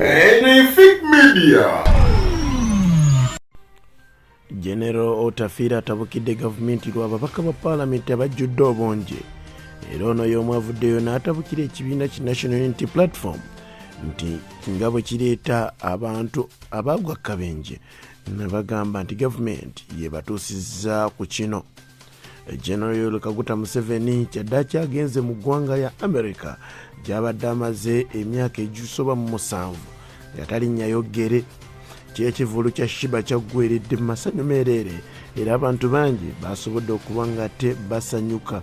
Anything Media. General Otafiira atabukidde gavumenti lwa babaka ba paalamenti abajjudde obungi era ono y'omu avuddeyo n'atabukira ekibiina ki National Unity Platform nti nga bwe kireeta abantu abaagwa akabenje ne bagamba nti gavumenti yebatuusizza ku kino general yoweri kaguta museveni kyaddaki agenze mu ggwanga lya america gyabadde amaze emyaka egisoba mu musanvu nga talinnyayo ggere kyekivulu kya shiba kyaggweredde mu masanyu meereere era abantu bangi basobodde okuba nga te basanyuka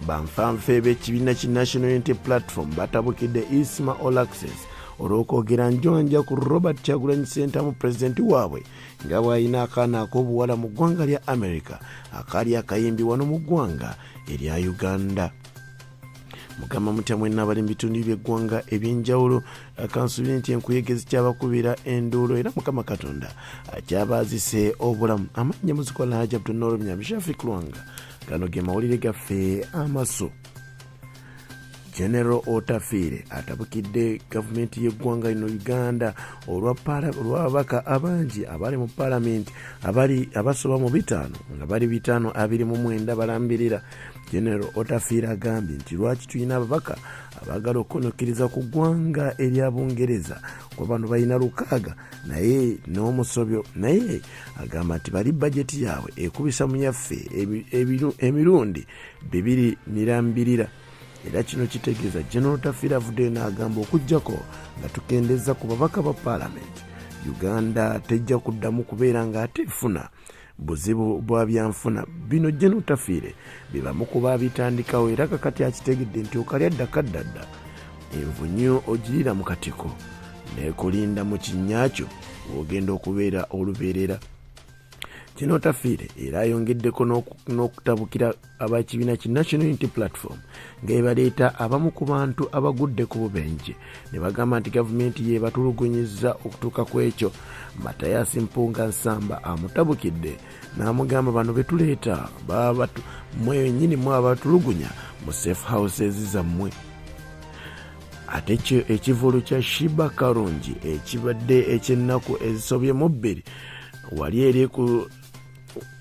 banfanfe b'ekibiina ki national unity platform batabukidde isma olaxes olw'okwogera njonja ku robert kyagulanyi sentamu pulezidenti waabwe nga bw'alina akaana ak'obuwala mu ggwanga lya america akaali akayimbi wano mu ggwanga erya uganda mugamba mutya mwenna abali mu bitundu byeggwanga ebyenjawulo kansubire nti enkuyege zikyabakubira enduulo era mukama katonda akyabaazise obulamu amannya muzikola hajabtunoro myamishafi kulwanga gano ge mawulire gaffe amaso general otafiire atabukidde gavumenti y'eggwanga lino uganda olwababaka abangi abali mu palamenti abasoba mu bitaano nga bali bitaano abiri mu mwenda balambirira general otafiire agambye nti lwaki tulina ababaka abaagala okukonokereza ku ggwanga erya bungereza kuba bano balina lukaaga naye n'omusobyo naye agamba nti bali bajeti yaabwe ekubisa mu yaffe emirundi e, e, bibiri mirambirira era kino kitegeeza general tafira avuddeyo n'agamba okugyako nga tukendeza ku babaka ba paalamenti uganda tejja kuddamu kubeera nga ate efuna buzibu bwa byanfuna bino general tafiire bebamu kuba abitandikawo era kakati akitegedde nti okalya dda kaddadda envunyo ogirira mu katiko nekulinda mu kinyakyo wogenda okubeera olubeerera kino tafiire era ayongeddeko n'okutabukira abakibiina ki national unity platform nga ebaleeta abamu ku bantu abagudde ku bubenje ne bagamba nti gavumenti yebatulugunyiza okutuuka ku ekyo matayasi mpunga nsamba amutabukidde n'amugamba bano betuleeta mwenyini mwe abatulugunya mu safe houses zammwe ate kyo ekivulu kya shiba karungi ekibadde ekyennaku ezisobye mu bbiri wali eri ku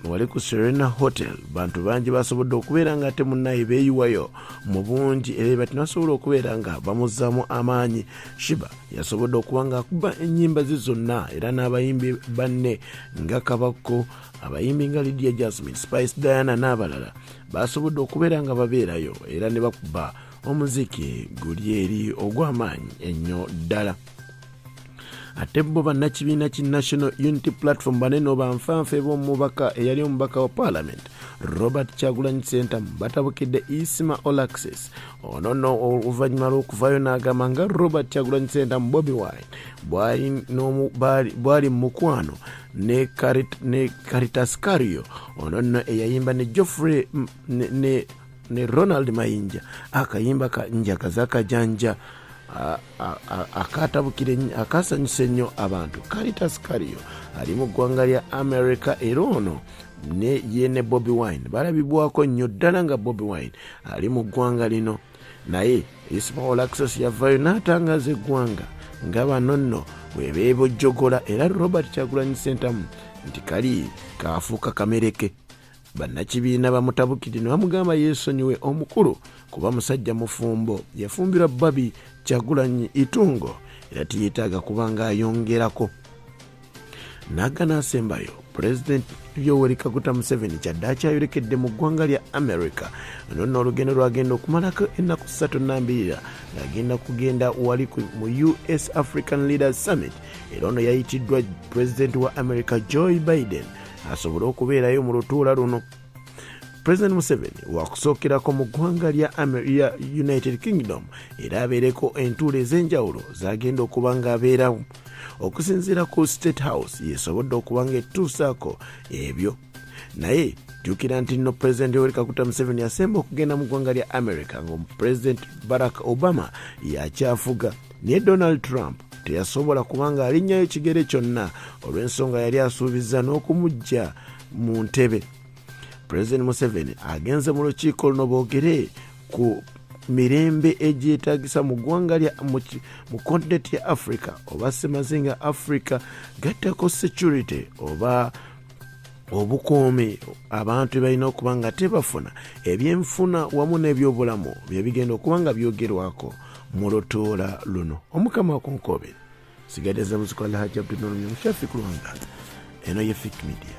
wali ku serena hotel bantu bangi basobodde okubeera nga ate munaye beeyiwayo mu bungi era eba tinasobola okubeera nga bamuzzaamu amaanyi shiba yasobodde okuba ng'akuba ennyimba ze zonna era n'abayimbi banne nga kabakko abayimbi nga lydia jasmine spice diana n'abalala basobodde okubeera nga babeerayo era ne bakuba omuziki guli eri ogw'amaanyi ennyo ddala ate bo bannakibiina ki national unity platform banene obanfanfe b'omubaka eyali omubaka wa parliament robert kyagulanyi sentamu batabukidde isima olaxis ono no oluvannyuma lw'okuvaayo n'agamba nga robert kyagulanyi sentamu bobi wine bwali mu mukwano ne caritas cario ono no eyayimba ne joffrey ne ne ronald mayinja akayimba ka njagaza akajanja akasanyusa ennyo abantu caritas cario ali mu ggwanga lya america era ono ne ye ne bobi wine balabibwako nnyo ddala nga bobi wine ali mu ggwanga lino naye ismaol axos yavayo n'atangaza eggwanga nga bano nno webeebojjogola era robert kyagulanyi sentamu nti kali kaafuuka kamereke bannakibiina bamutabukidde ne bamugamba yeesonyiwe omukulu kuba musajja mufumbo yafumbirwa babi kyagulanyi itungo era tiyetaaga kuba ng'ayongerako naga n'asembayo pulezidenti yoweri kaguta museveni kyadde akyayolekedde mu ggwanga lya america ono nno olugendo lwagenda okumalako ennaku ssatu nambirira ng'agenda kugenda wali mu us african leader summit era ono yayitiddwa pulezidenti wa america joy biden asobole okubeerayo mu lutuula luno president museveni wakusookerako mu ggwanga lya united kingdom era abeereko entuula ez'enjawulo zagenda okuba ng'abeerawo okusinziira ku state house yesobodde okuba ng'etuusaako ebyo naye jjukira nti nno pulezidenti yoweri kakuta museveni yasemba okugenda mu ggwanga lya america ng'omupulezidenti barack obama yakyafuga naye donald trump teyasobola kubanga alinnyayo kigere kyonna olw'ensonga yali asuubizza n'okumujja mu ntebe pulezidenti museveni agenze mu lukiiko luno boogere ku mirembe egyetagisa mu ggwanga mu kontinenti ya africa oba semazinga africa gattako security oba obukuumi abantu balina okuba nga tebafuna ebyenfuna wamu n'ebyobulamu byebigenda okuba nga byogerwako mu lutuula luno omukama wakunkobere sigadde za muzikola hajabdunulumyamushafi kulwanga eno ye fik media